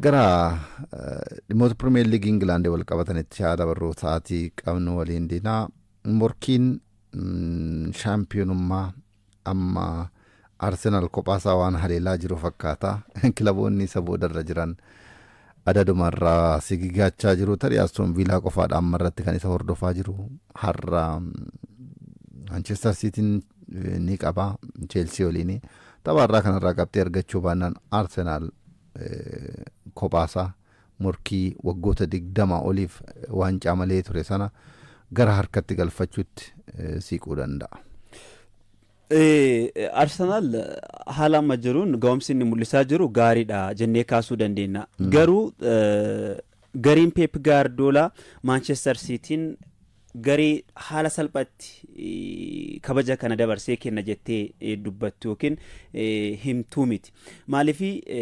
Gara dhimmoota Pirimeer Liigii Ingilaandii wal qabatanitti haa dabarru sa'aatii qabnu waliin diinaa morkiin shaampiyoonummaa amma Arsenaal kophaasaa waan haleelaa jiru fakkaata. Kilaboonni isa boodarra jiran adadumarraa sigigaachaa jiru. Tarii Astoon Viilaa qofaadha amma irratti kan isa hordofaa jiru. Har'a Manchester Siitiin ni qaba Cheelsii waliin. Tapha irraa kanarraa qabxii argachuu baannaan Arsenaal kophaasaa morkii waggoota digdama oliif waancaa malee ture sana gara harkatti galfachuutti siiquu danda'a. Arsenaal haala amma jiruun ga'umsi inni mul'isaa jiru gaariidha jennee kaasuu dandeenya. Garuu gareen Peep Gaardoolaa Maanchestar Siitiin garee haala salphatti kabaja kana dabarsee kenna jettee dubbattu yookiin himtuu miti. Maaliif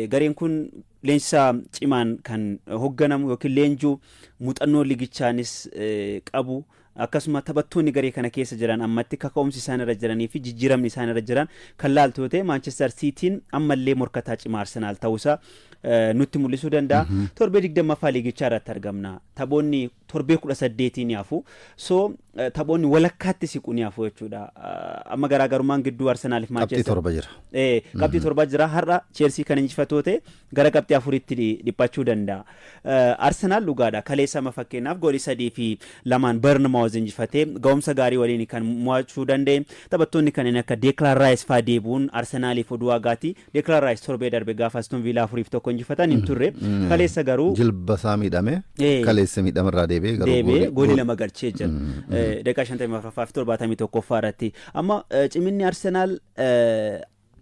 gareen kun leenjisaa cimaan kan hogganamu yookiin leenjuu muuxannoo ligichaanis qabu akkasuma taphattoonni garee kana keessa jiran ammatti kaka'umsi isaan irra jiranii fi jijjiiramni isaan irra jiran kan laaltu yoo ta'e Maanchestar Siitiin ammallee morkataa cimaa Arsenaal ta'uusaa nutti mul'isuu danda'a. Torbee digdammaffaa liigichaa irratti argamna. Taphoonni torbee 18 ni hafu. So taphoonni walakkaatti siqu ni hafu jechuudha. Amma garaagarummaan gidduu Arsenaal fi Qabxii Maanchester. torba jira. Eh, qabxii torba jira har'a Cheelsii kan injifatoo ta'e gara qabxii afuritti dhi- dhiphachuu danda'a. Eh, Arsenaal dhugaadha kaleessa amma fakkeenyaaf goolii sadii fi lamaan Bernmaawuz injifatee ga'umsa gaarii waliin kan mo'achuu danda'e taphattoonni kanneen akka Deeklaan Raayis fa'aa deebi'uun Arsenaaliif oduu hagaati Declan Rice torbee darbe gaafa Aston Villa afuriif tokko injifatan hin turre. Kaleessa garuu Jilba isaa miidhame. Ee. Kaleessa miidhama irraa deebi'ee garuu deebi'ee goolii- goolii gool- lama galchee jira. Eh, Daqiiqaa 54ffaa fi 71ffaa irratti. Amma eh, ciminni Arsenaal eh,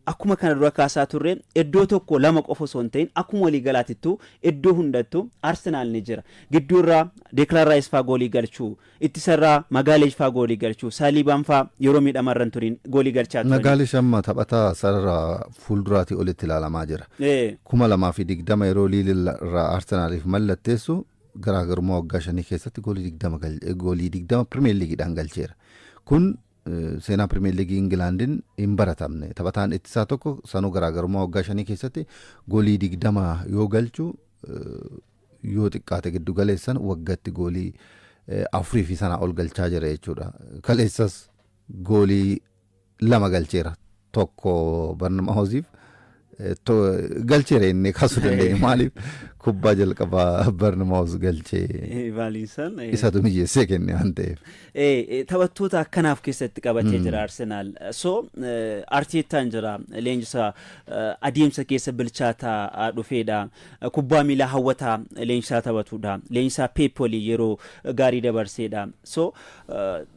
akkuma kana dura kaasaa turre iddoo tokko lama qofa osoo hin ta'in akkuma walii galaatittu iddoo hundattu Arsenaal ni jira. Gidduurraa Declan Rice faa goolii galchuu Ittisa irraa Magaalesh faa goolii galchu. Saaliibaan faa yeroo miidhama irra hin turin goolii galchaa turani. Nagaalesh amma taphataa sarara fuulduraatii olitti ilaalamaa jira. Ee. 2020 yeroo Liil irraa Arsenaaliif mallatteessu garaagarummaa waggaa shanii keessatti goolii 20 gal goolii 20 Pirimeer Liigiidhaan galcheera. Kun seenaa Pirimeer Liigii Ingilaandin hin baratamne. Taphataan ittisaa tokko sanuu garaagarummaa waggaa shanii keessatti goolii 20 yoo galchu yoo xiqqaate giddu galeessan waggatti goolii afurii fi sanaa ol galchaa jira jechuudha. Kaleessas goolii lama galcheera. Tokko Barnamaahoziif galcheera inni kaasuu dandeenya. Maaliif kubbaa jalqabaa Barnamaahoz galchee Vaaliinsaan. isatu mijeessee kenne waan ta'eef. Taphattoota akkanaaf keessatti qabatee jira Arsenaal. So Arteettaan jira leenjisaa adeemsa keessa bilchaataa dhufeedha. Kubbaa miilaa hawwataa leenjisaa taphatuudha. Leenjisaa Peep waliin yeroo gaarii dabarseedha. So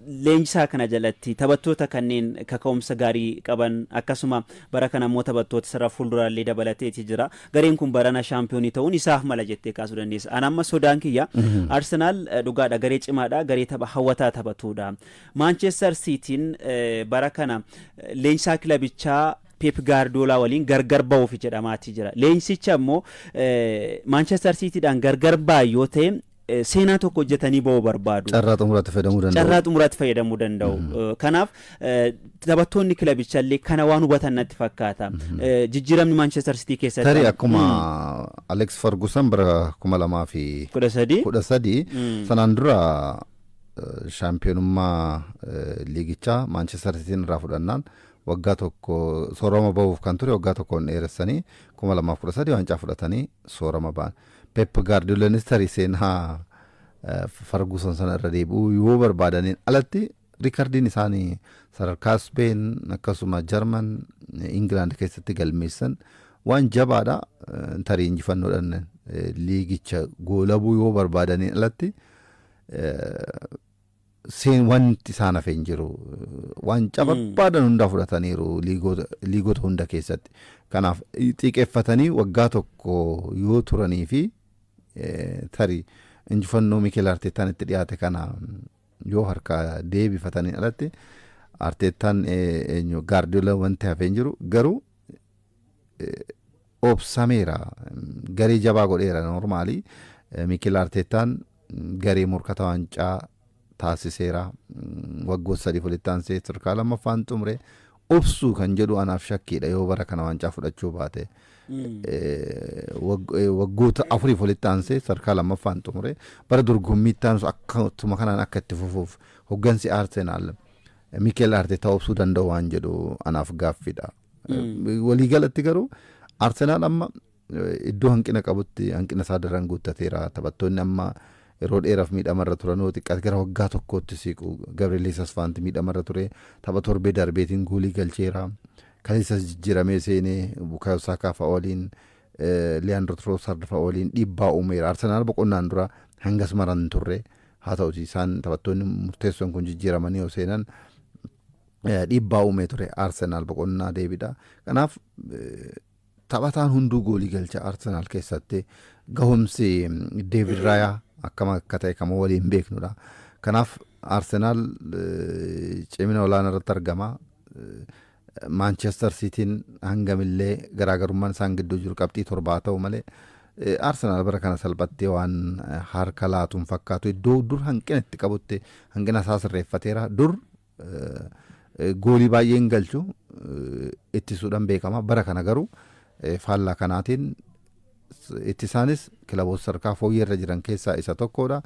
leenjisaa kana jalatti taphattoota kanneen kaka'umsa gaarii qaban akkasuma bara kana immoo taphattoota sarara fuulduraallee dabalateeti jira. Gareen kun barana shaampiyoonii ta'uun isaaf mala jettee kaasuu dandeessa. Ana amma sodaan kiyya Arsenaal dhugaadha garee cimaadha garee tapha hawwataa taphatuudha. Maanchestar Siitiin bara kana leenjisaa kilabichaa Peep Gaardiyoolaa waliin gargar bahuuf jedhamaati jira. Leenjsicha immoo Maanchester Siitiidhaan gargar ba'an yoo ta'e seenaa tokko hojjetanii ba'uu barbaadu. Carraa xumuraatti fayyadamuu danda'u. Carraa xumuraatti fayyadamuu danda'u. Kanaaf taphattoonni kilabicha illee kana waan hubatan natti fakkaata. Jijjiiramni Maanchester Siitii keessatti. Tarii akkuma Aleeks Fargusan bara kuma lamaa fi kudha sadii. kudha sadii sanaan dura shaampiyoonummaa liigichaa Maanchester Siitiin irraa fudhannaan Waggaa tokko soorama bahuuf kan ture waggaa tokkoon dheeressanii 2013 waancaa fudhatanii soorama ba'an. Pep Gaardiyoolaanis tarii seenaa Farguusan sana irra deebi'uu yoo barbaadaniin alatti riikardiin isaanii sadarkaa Speen akkasuma Jarman Ingilaand keessatti galmeessan waan jabaadha tarii injifannoodhaan liigicha goolabuu yoo barbaadaniin alatti seen wanti isaan hafe hin jiru. Waancaa barbaadan hundaa fudhataniiru liigoota liigota hunda keessatti. Kanaaf eh, xiiqeffatanii waggaa tokko yoo turanii fi eh, tarii injifannoo Mikel Arteettaan itti dhiyaate kana yoo harkaa deebifatanii alatti Arteettaan eh, eenyu Gaardiola wanti hafe hin jiru garuu obsameera garee jabaa godheera normaali Miikil Arteettaan garee morkata waancaa taasiseera waggoota sadii walitti aansee sadarkaa lammaffaan xumure obsuu kan jedhu anaaf shakkiidha yoo bara kana waancaa fudhachuu baate waggoota afuriif walitti aansee sadarkaa lammaffaan xumure bara dorgommiitti aanus akkatuma kanaan akka itti fufuuf hoggansi Arsenaal Mikel Artetaa obsuu danda'u waan jedhu anaaf gaaffiidha. Waliigalatti garuu Arsenaal amma iddoo hanqina qabutti hanqina isaa daran guuttateera. Taphattoonni amma yeroo dheeraaf miidhamarra turan yoo xiqqaate gara waggaa tokkootti siiqu. Gabriel Jesus faanti miidhamarra ture. Tapha torbee darbeetiin goolii galcheera. Kaleessas jijjiiramee seenee Bukaayoo Saakaa fa'a waliin Liyaandro Troosard fa'a waliin dhiibbaa uumeera. Arsenaal boqonnaan dura hangas maran hin turre. Haa ta'utii isaan taphattoonni murteessoon kun jijjiiramanii yoo seenan dhiibbaa uumee ture Arsenaal boqonnaa deebidha. Kanaaf taphataan hunduu goolii galcha Arsenaal keessatti gahumsi Deevid Raayaa akkam akka ta'e kan waliin beeknudha. Kanaaf Arsenaal cimina olaanaa irratti argama. Maanchester Siitiin hangamillee garaagarummaan isaan gidduu jiru qabxii torba haa ta'u malee Arsenaal bara kana salphattee waan harka laatu hin fakkaatu. Iddoo dur hanqina itti qabutti hanqina isaa sirreeffateera. Dur goolii baay'ee hin galchu ittisuudhaan beekama. Bara kana garuu faallaa kanaatiin ittisaanis kilaboota sadarkaa fooyyee irra jiran keessaa isa tokkodha.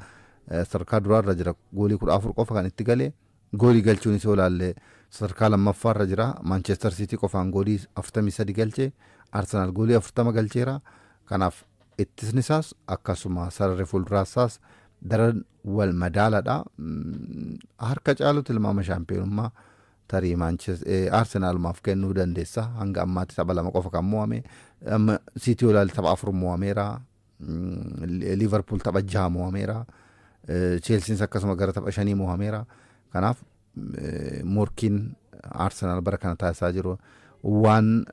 Sadarkaa duraa irra jira goolii kudha afur qofa kan itti galee. Goolii galchuunis yoo ilaalle sadarkaa lammaffaarra jira. Maanchester Siitii qofaan goolii 43 galche. Arsenaal goolii 40 galcheera. Kanaaf ittisnisaas akkasuma sararri fuulduraasaas daran wal madaaladha. Harka caalu tilmaama shaampiyoonummaa tarii Arsenaalumaaf kennuu dandeessa. Hanga ammaatti tapha lama qofa kan mo'ame. Siitii yoo ilaalle tapha afur mo'ameera. Liivarpuul tapha jaha mo'ameera. Cheelsiinis akkasuma gara tapha shanii mo'ameera. Kanaaf morkiin Arsenaal bara kana taasisaa jiru waan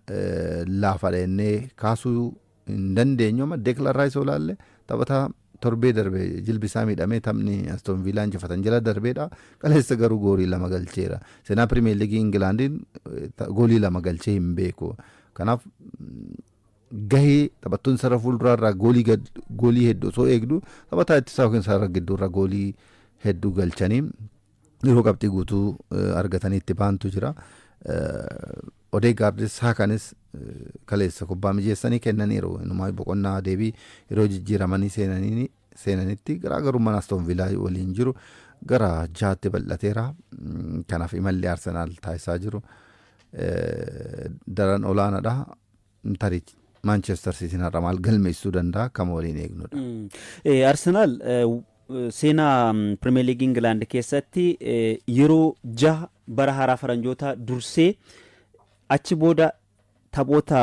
laafaadha jennee kaasuu hin dandeenyu amma Deeklan Raayis yoo ilaalle taphataa torbee darbe jilbi isaa miidhamee taphni Aston Viilaa injifatan jala darbeedha. Kaleessa garuu goolii lama galcheera. Seenaa Pirimeer Liigii Ingilaandiin goolii lama galchee hin beeku. Kanaaf gahee taphattoonni sarara fuulduraa irraa goolii gad goolii heddu osoo eegdu taphataa ittisaa yookiin sarara gidduu irraa goolii heddu galchanii yeroo qabxii guutuu eh, argatanii itti baantu jira. Eh, Odeegaardis Saakaanis eh, kaleessa kubbaa mijeessanii kennaniiru. Inumaa boqonnaa deebii yeroo jijjiiramanii seenanii seenanitti garaagarummaan Aston Villaa waliin jiru gara jaatti bal'ateera. Mm, Kanaaf imalli Arsenaal taasisaa jiru eh, daran olaanaadha. Tarii Maanchestar Siitiin har'a maal galmeessuu danda'a kan waliin eegnudha. Mm. Eh, Arsenaal eh, w- eh, seenaa mm, Pirimeer Liigii Ingilaand keessatti eh, yeroo jaha bara haaraa faranjootaa dursee achi booda Taphoota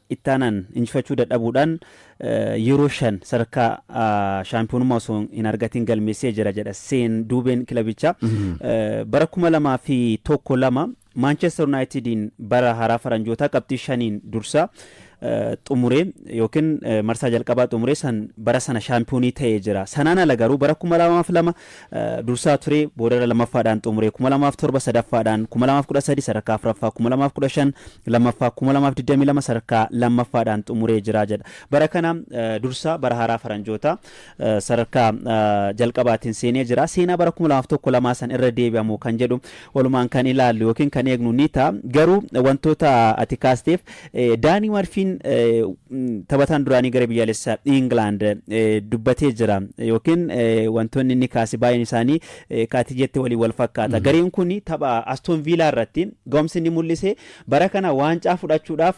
itti aanan injifachuu dadhabuudhaan yeroo shan sadarkaa shaampiyoonummaa osoo hin argatiin galmeessee jira jedha seen duubeen kilabichaa. Bara kuma lamaa fi tokko lama Maanchester Yuunaayitidiin bara haaraa faranjootaa qabxii shaniin dursaa xumuree yookiin marsaa jalqabaa xumuree san bara sana shaampiyoonii ta'ee jira. Sanaan ala garuu bara kuma lamaa fi lama dursaa ture, boodarra lammaffaadhaan xumure, 2007 sadaffaadhaan, 2013 sadarkaa afraffaa, 2015 lammaffaa, 2022 sadarkaa lammaffaadhaan xumuree jira jedha. Bara kana dursaa bara haaraa faranjootaa sadarkaa jalqabaatiin seenee jira. Seenaa bara 2001 lamaa san irra deebi'a moo kan jedhu walumaan kan ilaallu yookiin kan eegnu ni ta'a. Garuu wantoota ati kaasteef Daanii Marfiin taphataan duraanii gara biyyaalessa Ingilaand dubbatee jira yookiin wantoonni inni kaase baay'een isaanii kaati jette waliin wal fakkaata. Gareen kun tapha Aston Viilaa irratti ga'umsi inni mul'ise bara kana waancaa fudhachuudhaaf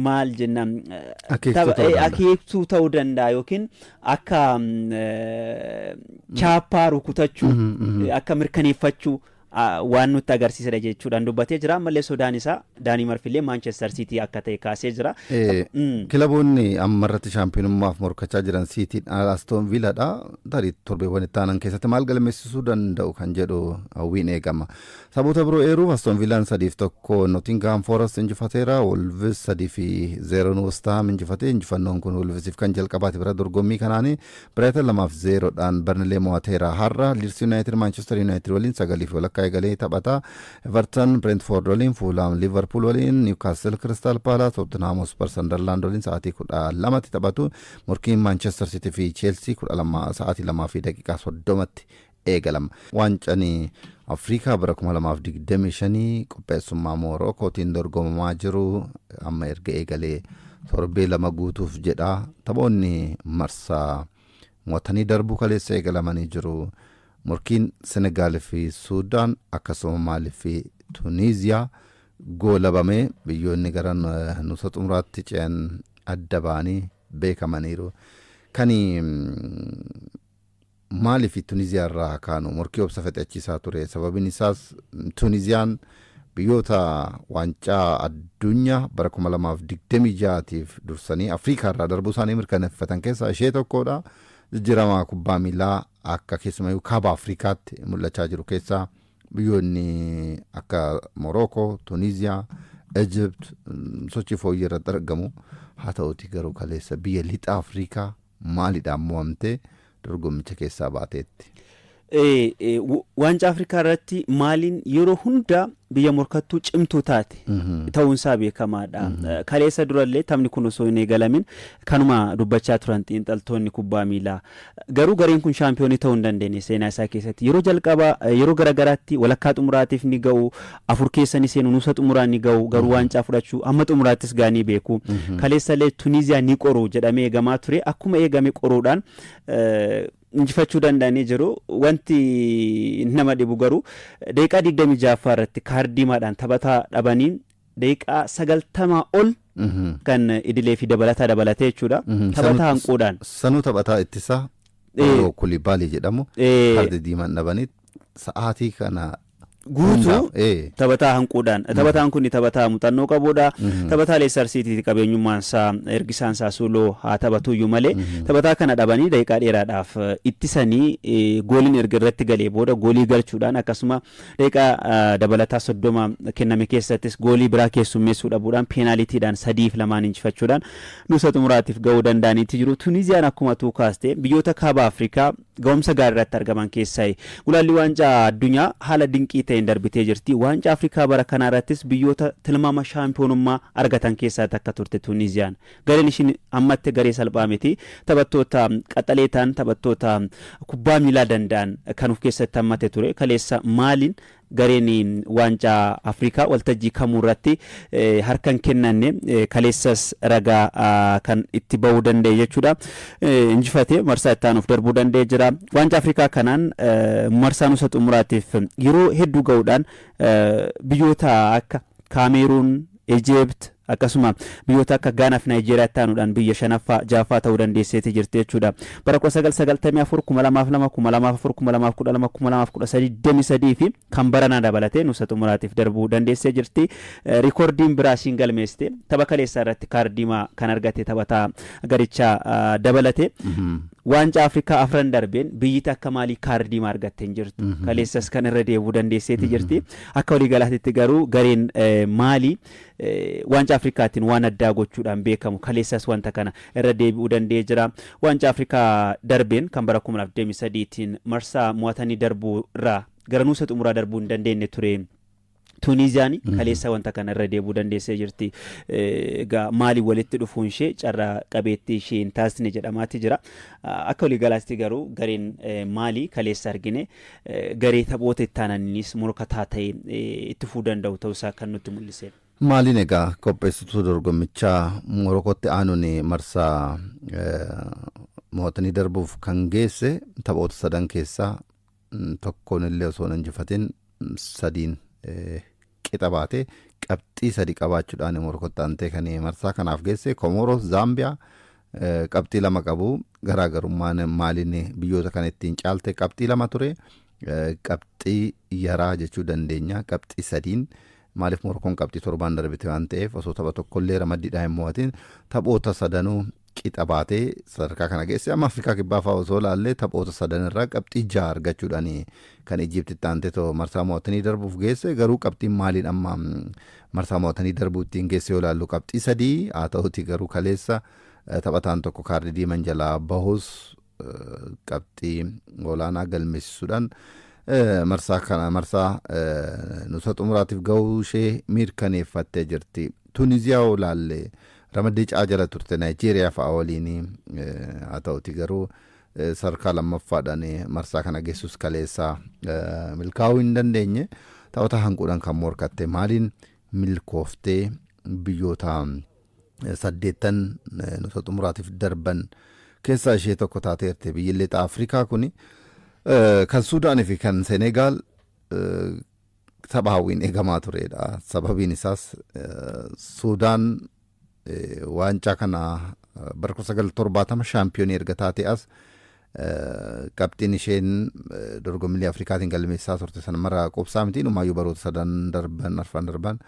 maal jennaan akeektuu ta'uu danda'a yookiin akka chaappaa rukutachuu akka mirkaneeffachuu waan nutti agarsiisedha jechuudhaan dubbatee jira ammallee sodaan isaa daanii marfillee maanchestar siitii akka ta'e kaasee jira. Kilaboonni amma irratti shaampiyoonummaaf morkachaa jiran siitiin astoon viiladha tarii torbeewwan itti aanan keessatti maal galmeessisuu danda'u kan jedhu hawwiin eegama. Taphoota biroo eeruuf Aston Viilaan 3 fi 1 Notingahaam Foorast injifateera. Wolvis 3 fi 0n Westahaam injifate. Injifannoon kun Wolvisiif kan jalqabaati bara dorgommii kanaani. Biraayitan 2 fi 0 dhaan Barnilee mo'ateera. Har'a Liids Yunaayitid Maanchester Yunaayitid waliin 9 fi walakkaa eegalee taphata. Evertan Bireentifoord waliin, Fuulhaam Liivarpuul waliin, Niwkaastil Kiristaal Paalaas, Tootinhaam Hospar Sandarlaand waliin sa'aatii 12tti taphatu. Morkiin Maanchester Siitii fi Cheelsii 12 sa'aatii 2:30tti eegalama. Waancani Afrikaa bara 2025 qopheessummaa Moorookootiin dorgomamaa jiru amma erga eegalee torbee lama guutuuf jedha. Taphoonni marsaa mo'atanii darbuu kaleessa eegalamanii jiru. Morkiin Senegaal fi Suudaan akkasuma Maalii fi Tuniiziyaa goolabame. Biyyoonni gara nuusa xumuraatti ce'an adda ba'anii beekamaniiru. Kani Maaliif Tuniziyaa irraa haa kaanu? Morkii obsa fexeachiisaa ture. Sababin isaas Tuniziyaan biyyoota waancaa addunya bara 2026 tiif dursanii Afrikaa irraa darbuu isaanii mirkaneffatan keessaa ishee tokkoodha. Jijjiramaa kubbaa miilaa akka keessumayyuu kaaba Afrikaatti mul'achaa jiru keessaa biyyoonni akka Morookoo, Tuniziyaa, Ejipt sochii fooyyee irratti argamu. Haa ta'uuti garuu kaleessa biyya lixa Afrikaa Maaliidhaan mo'amtee dorgommicha keessaa baateetti? Waancaa Afrikaa irratti Maaliin yeroo hunda biyya morkattuu cimtuu taate ta'uunsaa beekamaadha. Kaleessa durallee taphni kun osoo hin eegalamin kanuma dubbachaa turan xiinxaltoonni kubbaa miilaa. Garuu gareen kun shaampiyoonii ta'uu hin dandeenye seenaa isaa keessatti. Yeroo jalqabaa yeroo garagaraatti walakkaa xumuraatiif ni ga'u, afur keessa ni seenu nuusa xumuraa ni ga'u garuu waancaa fudhachuu hamma xumuraattis ga'anii beeku kaleessa illee Tuniiziyaa ni qoru jedhamee eegamaa ture akkuma eegame qoruudhaan eh, injifachuu danda'anii jiru wanti nama dhibu garuu daqiiqaa 26ffaa irratti kaardiimaadhaan taphataa dhabaniin daqiiqaa 90 ol kan idilee fi dabalataa dabalatee jechuudha taphataa hanquudhaan Sanuu taphataa ittisaa Eh. Pauloo Kulibaalii jedhamu Eh. kaardii diimaan dhabanii sa'aatii kana Guutuu hundaaf, ee. taphataa hanquudhaan taphataan kun taphataa muuxannoo qabuudha taphataa leestar siitiiti qabeenyummaan isaa ergisaan isaa suuloo haa taphatuyyuu malee taphataa kana dhabanii daqiiqaa dheeraadhaaf eh, ittisanii eh, gooliin erga irratti galee booda goolii galchuudhaan akkasuma daqiiqaa ah, dabalataa soddoma kenname keessattis goolii biraa keessummeessuu dhabuudhaan peenaalitiidhaan sadiif lamaan injifachuudhaan nuusa xumuraatiif ga'uu danda'aniitti jiru tuniziyaan akkuma tuu kaaste biyyoota kaaba afrikaa Gahumsa gaarii irratti argaman keessaayi. Gulaallii Waancaa Addunyaa haala dinqii ta'een darbitee jirti. Waancaa Afrikaa bara kanaa irrattis biyyoota tilmaama shaampiyoonummaa argatan keessaa takka turte Tuuniiziyaan. Gareen ishiin hammatte garee salphaa miti. Taphattoota qaxalee ta'an, taphattoota kubbaa miilaa danda'an kan of keessatti hammate ture. Kaleessa Maaliin Gareen Waancaa Afrikaa waltajjii kamuurratti harka hin kennanne, kaleessas ragaa kan itti bahuu danda'e jechuudha. Injifatee marsaa itti aanuuf darbuu danda'ee jira. Waancaa Afrikaa kanaan marsaa nusa xumuraatiif yeroo hedduu gahuudhaan biyyoota akka Kaameeruun, Egypt, akkasuma biyyoota akka Gaanaa fi Naayijeeriyaatti aanuudhaan biyya shanaffaa, ja'affaa ta'uu dandeesseeti jirti jechuudha. Bara 1994, 2002, 2004, 2012, 2013, 23 fi kan baranaa dabalatee nuusa xumuraatiif darbuu dandeessee jirti. Riikoordiin biraa ishiin galmeessite tapha kaleessaa irratti kaardiimaa kan argate taphataa garichaa dabalate. Waancaa Afrikaa afran darbeen biyyi takka maalii kaardiimaa argatte hin jirtu. Kaleessas kan irra deebuu dandeesseeti jirti. Akka waliigalaatitti garuu gareen Maalii Waancaa Afrikaattiin waan addaa gochuudhaan beekamu. Kaleessas wanta kana irra deebi'uu danda'ee jira. Waancaa Afrikaa darbeen kan bara 2023tiin marsaa mo'atanii darbuu irraa gara nuusa xumuraa darbuu hin dandeenye ture. Tuuniiziyaan kaleessa wanta kana irra deebi'uu dandeessee jirti. Egaa Maalii walitti dhufuun ishee carraa qabeettii ishee hin taasisne jedhamaatti jira. Akka waliigalaatti garuu gareen Maalii kaleessa argine garee taphoota itti aananiinis morkataa ta'e itti fufuu danda'u ta'uu isaa kan nutti mul'iseedha. Maaliin egaa qopheessituu dorgommichaa Morokootti aanuun marsaa mo'atanii darbuuf kan geesse taphoota sadan keessaa tokkoon illee osoo hin injifatin sadiin qixa baatee qabxii sadi qabaachudhaan immoo rukuttaantee kan marsaa kanaaf geesse Komooros Zaambiyaa qabxii lama qabu garaagarummaan maaliin biyyoota kana ittiin caalte qabxii lama ture qabxii yaraa jechuu dandeenya qabxii sadiin maaliif Morokoon qabxii torbaan darbite waan ta'eef osoo tapha tokkollee ramaddiidhaa hin mo'atin taphoota sadanuu qixa baatee sadarkaa kana geesse. Amma Afrikaa Kibbaa fa'aa osoo ilaalle taphoota sadan irraa qabxii ja'a argachuudhaan kan Ijiipti itti aanteetoo marsaa mo'atanii darbuuf geesse. Garuu qabxiin Maaliin amma marsaa mo'atanii darbuu ittiin geesse yoo ilaallu qabxii sadii. Haa ta'uutii garuu kaleessa taphataan tokko kaardii diiman jalaa bahus qabxii olaanaa galmeessisuudhaan marsaa kana marsaa nusa xumuraatiif gahuu ishee mirkaneeffattee jirti. Tuniziyaa yoo ilaalle ramaddii caa jala turte Naayijeeriyaa fa'a waliin haa ta'uti garuu sadarkaa lammaffaadhaan marsaa kana geessus kaleessaa milkaa'uu hin dandeenye taphata hanquudhaan kan morkatte maaliin milkooftee biyyoota saddeettan nusa xumuraatiif darban keessaa ishee tokko taateerte. Biyyi Lixa Afrikaa kuni eh, kan Suudaanii fi kan Senegaal eh, tapha hawwiin eegamaa turedha. Sababiin isaas eh, Suudaan eh, waancaa kana eh, bara 1970 shaampiyoonii erga taatee as Qabxiin isheen dorgommilee Afrikaatiin galmeessisaa turte sana mara quubsaa miti. Inumaayyuu baroota sadan darban, arfan darban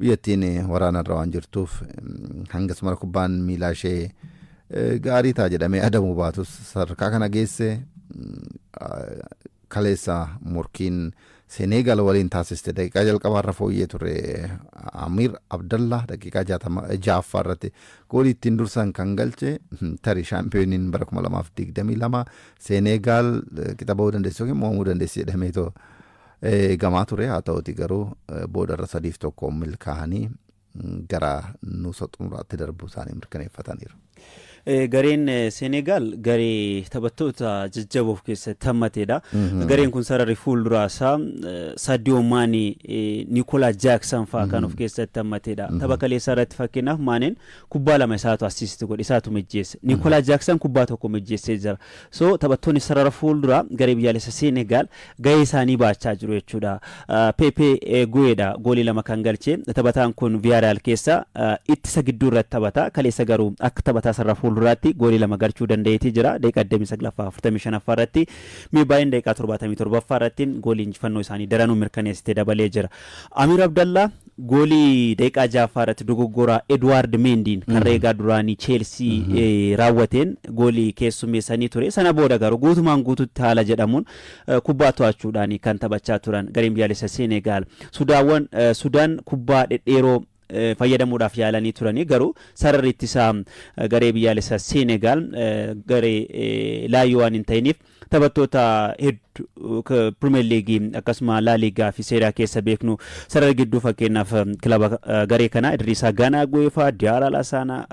biyyattiin waraana irra waan jirtuuf hangas mara kubbaan miilaa ishee gaarii ta'a jedhamee adamuu baatus sadarkaa kana geesse Kaleessa morkiin Seneegaal waliin taasiste daqiiqaa jalqabaarra fooyyee ture Amiir Abdallaa daqiiqaa 66ffaa irratti goolii ittiin dursan kan galche tarii shaampiyooniin bara 2022 Seneegaal qixa ba'uu dandeessi yookiin mo'amuu dandeessi jedhameetoo eegamaa ture haa ta'uti garuu boodarra sadiif tokkoon milkaa'anii gara nuusa xumuraatti darbuu isaanii mirkaneeffataniiru. Gareen Seeneegaal garee taphattoota jajjaboo of keessatti hammateedha. Gareen kun sararri fuulduraa isaa Saadiyoo Maanee, Niikoolaa Jaaksan fa'aa kan of keessatti hammateedha. Tapha kaleessaa irratti fakkeenyaaf Maaneen kubbaa lama isaatu assiisti godhe, isaatu mijjeesse. Niikoolaa Jaaksan kubbaa tokko mijjeessee jira. So taphattoonni sarara fuulduraa garee biyyaalessa Seenegaal gahee isaanii bahachaa jiru jechuudha. Pepe Gueedha goolii lama kan galche. Taphataan kun Viyaaraal keessa ittisa gidduu irratti taphata. Kaleessa garuu akka taphataa sarara fuulduraatti goolii lama galchuu danda'eetii jira. Daqiiqaa 29ffaa 45ffaa irratti Meebaayeen daqiiqaa 77ffaa irratti goolii injifannoo isaanii daranuu mirkaneessite dabalee jira. Amiir Abdallaa Goolii daqiiqaa 6ffaa irratti dogoggora Eduwaard Meendiin karra eegaa duraanii Cheelsii raawwateen goolii keessummeessanii ture. Sana booda garuu guutumaan guututti haala jedhamuun kubbaa to'achuudhaan kan taphachaa turan gareen biyyaalessa Seenegaal. Sudaawwan Sudaan kubbaa dhedheeroo fayyadamuudhaaf yaalanii turanii garuu sararri ittisaa garee biyyaalessa Seenegaal garee laayyoo waan hin ta'iniif Taphattoota heddu Pirimeer Liigii akkasuma Laa Liigaa fi Seeraa keessa beeknu sarara gidduu fakkeenyaaf kilaba garee kanaa Idriisaa Ganaa Guweefaa, Diyaaraa Lasaanaa,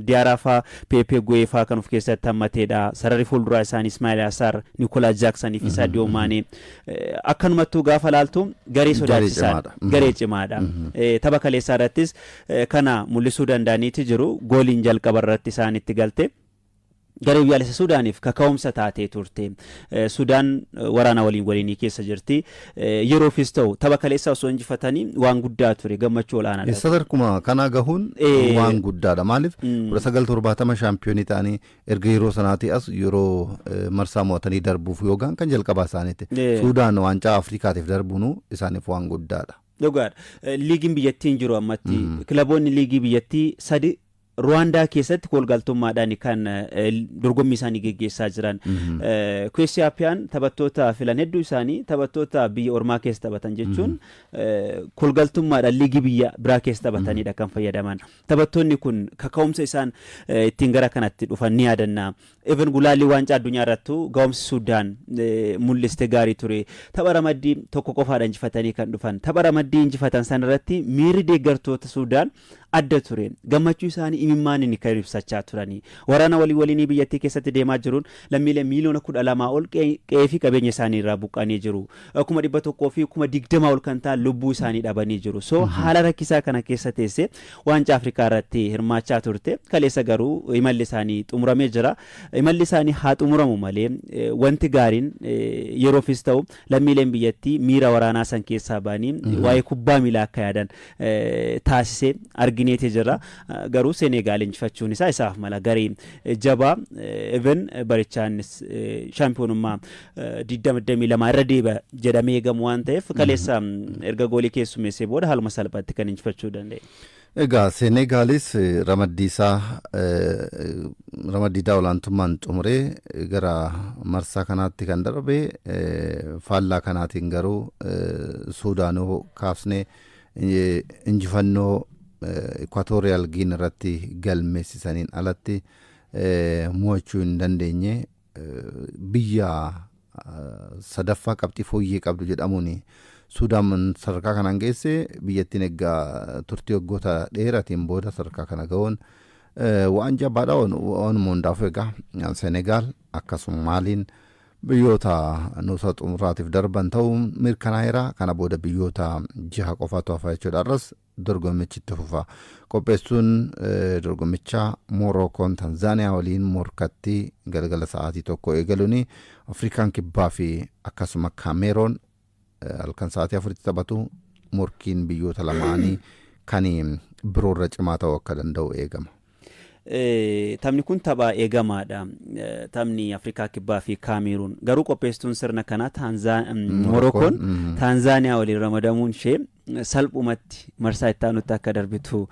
Diyaaraa faa, Peepee Guweefaa kan of keessatti hammateedha. Sararri fuulduraa isaanii Ismaa'il Asaar, Nikolaa Jaaksan fi Saadiyoo Maanee. Akkanumattuu gaafa laaltu garee sodaachisaadha. Garee cimaadha. Tapha kaleessaa irrattis kana mul'isuu danda'aniiti jiru. Gooliin jalqaba irratti isaanitti galte. Garee Biyyaalessa Sudaaniif kaka'umsa taatee turte. Sudaan waraana waliin waliinii keessa jirti. Yeroofis ta'u tapha kaleessaa osoo injifatanii waan guddaa ture gammachuu olaanaadha. Isa sadarkuma kanaa gahuun waan guddaadha. Maaliif 1970 shaampiyoonii ta'anii erga yeroo sanaatii as yeroo marsaa mo'atanii darbuuf yoo gahan kan jalqabaa isaaniiti. Sudaan waancaa Afrikaatiif darbuun isaaniif waan guddaadha. Dhugaadha. Liigiin biyyattiin jiru ammatti kilaboonni liigii biyyattii sadi Ruwaandaa keessatti koolgaltummaadhaan kan dorgommii isaanii geggeessaa jiran. Kuweessi Appiyaan taphattoota filan hedduu isaanii taphattoota biyya ormaa keessa taphatan jechuun koolgaltummaadhaan liigii biyya biraa keessa taphatanidha kan fayyadaman. Taphattoonni kun kaka'umsa isaan ittiin gara kanatti dhufan ni yaadanna. Even gulaallii waancaa addunyaa irrattu ga'umsi Suudaan mul'iste gaarii ture. Tapha ramaddii tokko qofaadha injifatanii kan dhufan. Tapha ramaddii injifatan sanarratti miirri deeggartoota Suudaan adda ture. Gammachuu isaanii imimmaaniin kan ibsachaa turani. Waraana walii waliinii biyyattii keessatti deemaa jiruun lammiileen miiliyoona 12 ol qe'ee fi qabeenya isaanii irraa buqqa'anii jiru. Kuma 100 fi kuma 20 ol kan ta'an lubbuu isaanii dhabanii jiru. So haala rakkisaa kana keessa teessee waancaa Afrikaa irratti hirmaachaa turte. Kaleessa garuu imalli isaanii xumuramee jira. Imalli isaanii haa xumuramu malee wanti gaariin yeroofis ta'u Lammiileen biyyattii miira waraanaa san keessaa ba'anii waa'ee kubbaa miilaa akka yaadan taasise argineeti jirra. Garuu Seneegaal injifachuun isaa isaaf mala. Garee jabaa even barichaa innis shaampiyoonummaa 2022 irra deeba jedhamee eegamu waan ta'eef kaleessa erga goolii keessummeessee booda haaluma salphaatti kan injifachuu danda'e. Egaa Seeneegaalis ramaddii isaa ramaddii isaa olaantummaan xumuree gara marsaa kanaatti kan darbe faallaa kanaatiin garuu Suudaan yoo kaafne injifannoo Ikwaatooriyaal Giin irratti galmeessisaniin alatti mo'achuu hin dandeenye Biyya sadaffaa qabxii fooyyee qabdu jedhamuun Suudaan sadarkaa kanaan geesse biyyattiin egaa turtii waggoota dheeratiin booda sadarkaa kana ga'uun waan jabaadha waanuma hundaafuu egaa Senegaal akkasuma Maaliin biyyoota nuusa xumuraatiif darban ta'uu mirkanaa'eera kana booda biyyoota jaha qofaatu hafa jechuudha arras Dorgommichi itti fufa. Qopheessuun dorgommichaa Moorookoon Tanzaaniyaa waliin morkatti galgala sa'aatii 1 eegaluun Afrikaan Kibbaa fi akkasuma Kaameeroon halkan sa'aatii 4tti taphatu morkiin biyyoota lamaanii kan biroorra cimaa ta'uu akka danda'u eegama. Taphni kun tapha eegamaadha. Taphni Afrikaa Kibbaa fi Kaamiiruun. Garuu qopheessituun sirna kanaa Morookoon Taanzaaniyaa waliin ramadamuun ishee salphumatti marsaa itti aanutti akka darbitu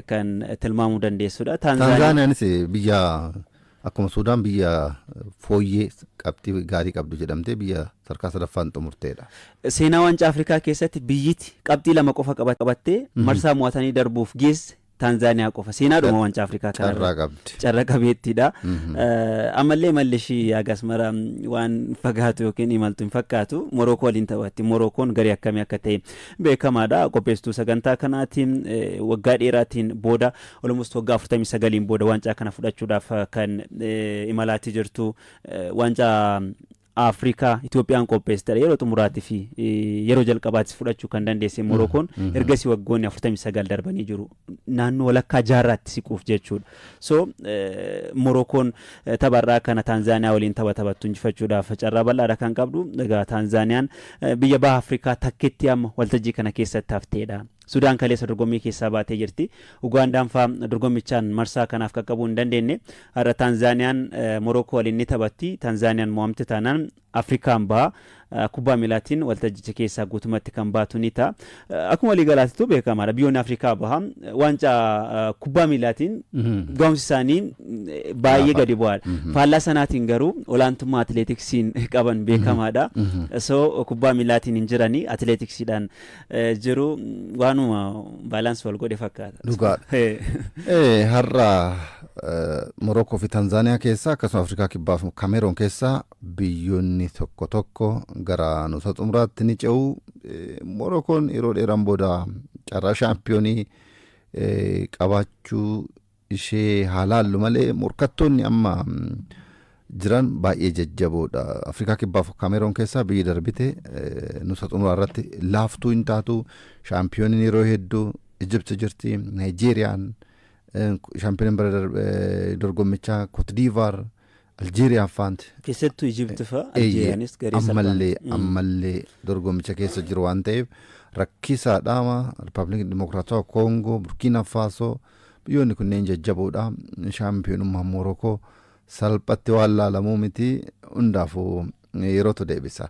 kan tilmaamuu dandeessudha. Taanzaaniyaanis biyya akkuma Suudaan biyya fooyyee qabxii gaarii qabdu jedhamtee biyya sadarkaa sadaffaan xumurteedha. Seenaa waancaa Afrikaa keessatti biyyiti qabxii lama qofa qabattee marsaa mo'atanii darbuuf geesse Taanzaaniyaa qofa seenaadhuma waancaa Afrikaa kana Carraa irratti qabdi. carra qabeettiidha. Eh, Ammallee imalli ishii haga asmara mm, waan fagaatu yookiin imaltu hin fakkaatu. Morookoo waliin taphatti. Morookoon garee akkamii akka ta'e beekamaadha. Qopheessituu sagantaa kanaatiin eh, waggaa dheeraatiin booda almost waggaa 49n booda waancaa kana fudhachuudhaaf eh, kan eh, imalaatii jirtu eh, waancaa Afrikaa Itoophiyaan qopheessitedha. Yeroo xumuraatii fi yeroo jalqabaattis fudhachuu kan dandeesse Morookoon ergasii waggoonni 49 darbanii jiru. Naannoo walakkaa jaarraatti siquuf jechuudha. So Morookoon tapharraa kana Taanzaaniyaa waliin tapha taphattu injifachuudhaaf carraa bal'aadha kan qabdu. Egaa Taanzaaniyaan biyya baha Afrikaa takkitti amma waltajjii kana keessatti hafteedha. Sudaan kaleessa dorgommii keessaa baatee jirti. Ugaandaan faa dorgommichaan marsaa kanaaf qaqqabuu hin dandeenne. Har'a Taanzaaniyaan Morookoo waliin ni taphatti. Taanzaaniyaan mo'amte taanaan Afrikaan baha. Kubbaa miilaatiin waltajjicha keessaa guutumatti kan baatu ni ta'a. Akkuma waliigalaatitu beekamaadha. Biyyoonni Afrikaa baha. Waancaa kubbaa miilaatiin gahumsi isaanii baay'ee gadi bu'aadha. Faallaa sanaatiin garuu olaantummaa atileetiksiin qaban beekamaadha. So kubbaa miilaatiin hin jirani atileetiksiidhaan jiru waanuma baalaansi wal godhe fakkaata. Dhugaadha. Har'a Morookoo fi Tanzaaniyaa keessaa akkasuma Afrikaa Kibbaa fi Kameeroon keessaa biyyoonni tokko tokko gara nuusa xumuraatti ni ce'u. Morookoon yeroo dheeraan booda carraa shaampiyoonii qabaachuu ishee haa laallu malee morkattoonni amma jiran baay'ee jajjaboodha. Afrikaa Kibbaa fi Kaameroon keessaa biyyi darbite nusa xumuraa irratti laaftuu hin taatu. Shaampiyooniin yeroo hedduu Ijibti jirti, Naayijeeriyaan, shaampiyooniin bara dorgommichaa Kootdiivaar, Aljeeriyaa faanti. Keessattuu Ijipti fa'a Eeyyee, Aljeeriyaanis garee salphaa ammallee miti. Mm. ammallee dorgommicha keessa jiru waan ta'eef rakkisaadhaama Ripaabilikii Dimokiraatawaa Koongoo, Burkiina Faasoo biyyoonni kunneen jajjaboodha. Shaampiyoonummaan Moorokoo salphatti waan laalamuu miti hundaafuu yerootu deebisa.